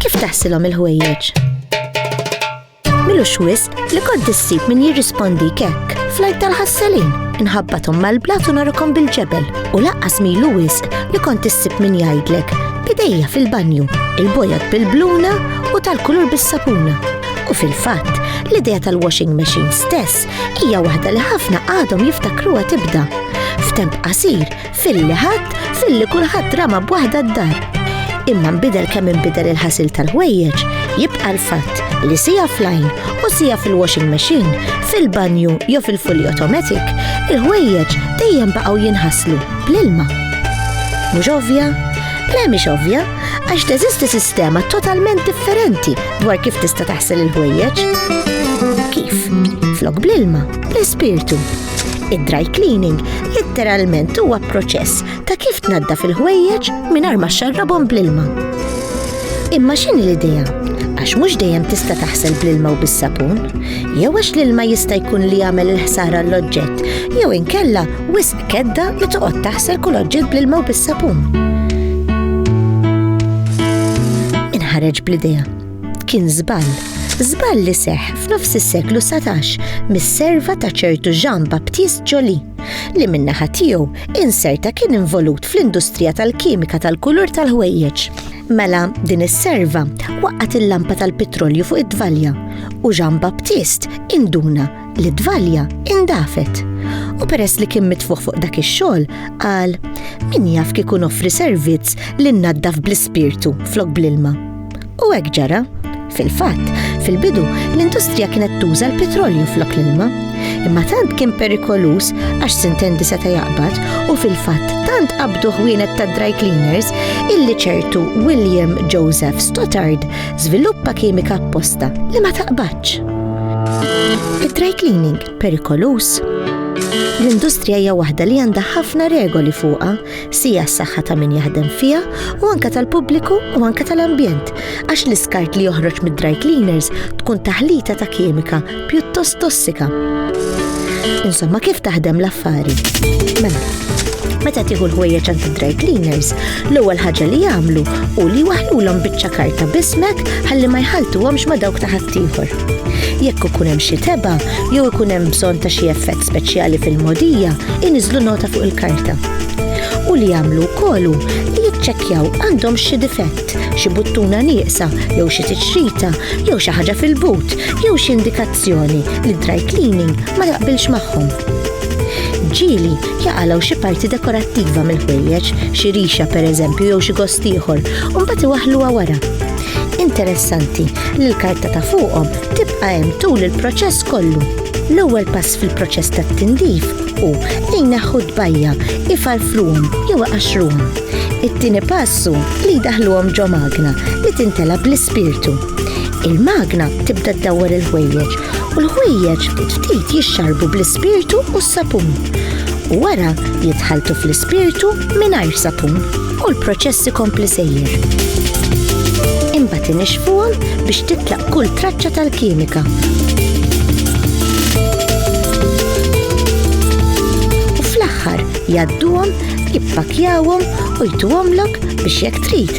Kif taħsilhom il-ħwejjeġ? Milux wisq li kont issib min jirrispondi kekk flajt tal-ħassalin, inħabbatom mal-blat u narukom bil-ġebel u laqqas milu wisq li kont issib min jgħidlek bidejja fil-banju, il-bojot bil-bluna u tal-kulur bis-sapuna. U fil-fatt, l-idea tal-washing machine stess hija waħda li ħafna għadhom jiftakruha tibda. F'temp qasir, filli ħadd, filli kulħadd rama b'waħda d-dar. Imma nbidel kemm inbidel il-ħasil tal-ħwejjeġ, jibqa' l-fatt li sija flajn u sija fil-washing machine, fil-banju jew fil-fully automatic, il-ħwejjeġ dejjem baqgħu jinħaslu bl-ilma. Mhux ovvja? Le mhix ovvja, Għax teżisti sistema totalment differenti dwar kif tista' taħsel il-ħwejjeġ. Kif? Flok bl-ilma, l-ispirtu. Id-dry cleaning literalment huwa proċess ta' kif tnadda fil-ħwejjeġ mingħajr ma xarrabhom bl-ilma. Imma x'in l-idea? Għax mhux dejjem tista' taħsel bl-ilma u bis-sapun, jew għax l-ilma jista' jkun li jagħmel il-ħsara l-oġġett, jew inkella wis Kedda li toqgħod taħsel kull oġġett bl-ilma u bis-sapun. Inħareġ bl-idea. Kien żball. Żball li seħ f'nofs is-seklu 17 mis-serva ta' ċertu Jean Baptiste Jolie li minnaħa tiegħu inserta kien involut fl-industrija tal-kimika tal-kulur tal-ħwejjeġ. Mela din is-serva waqgħet il-lampa tal-petrolju fuq id-dvalja u Jean Baptist induna li dvalja indafet. U peress li kien mitfuħ fuq dak ix-xogħol, qal min jaf kikun offri servizz li nnaddaf bl-ispirtu flok bl-ilma. U hekk ġara. Fil-fatt, fil-bidu l-industrija kienet tuża l-petrolju flok l-ilma, imma tant kien perikoluż għax sintendi seta' jaqbad u fil-fatt tant qabdu ħwienet ta' dry cleaners illi ċertu William Joseph Stottard żviluppa kimika apposta li ma taqbadx. Il-dry cleaning perikoluż L-industrija hija waħda li għandha ħafna regoli fuqha, sija s-saħħa ta' min jaħdem fiha u anke tal-pubbliku u anke tal-ambjent, għax l-iskart li joħroġ mid-dry cleaners tkun taħlita ta' kimika pjuttost tossika. Insomma, kif taħdem l-affari? Mela, meta tieħu l-ħwejjeġ għand id-dry cleaners, l-ewwel ħaġa li jagħmlu hu li jwaħħlulhom biċċa karta b'ismek ħalli ma jħalltuhomx ma' dawk ta' ħaddieħor. Jekk ikun hemm xi tebgħa jew ikun hemm bżonn ta' xi effett speċjali fil-mogħdija, iniżlu nota fuq il-karta. U li jagħmlu wkoll hu li jiċċekkjaw għandhom xi difett, xi buttuna nieqsa jew xi tiċrita jew xi ħaġa fil-but jew xi indikazzjoni li dry cleaning ma jaqbilx magħhom. Ġieli jaqalgħu xi parti dekorattiva mill-ħwejjeġ, xi rixa pereżempju jew xi gost ieħor, u mbagħad iwaħħluha wara. Interessanti li l-karta ta' fuqhom tibqa' hemm tul il-proċess kollu. L-ewwel pass fil-proċess tat-tindif hu li jneħħu d-dbajja, ifarfruhom jew iqaxxruhom. It-tieni pass hu li jdaħluhom ġo magna li tintela bl-ispirtu. Il-magna tibda ddawwar il-ħwejjeġ u l-ħwejjeġ ftit jixxarbu bl-ispirtu u s-sapun. U wara jitħaltu fl-ispirtu mingħajr sapun u l-proċess ikompli sejjer. Imbagħad inixfuhom biex titlaq kull traċċa tal-kimika. U fl-aħħar jgħadduhom, jippakjawhom u jtuhomlok biex jekk trid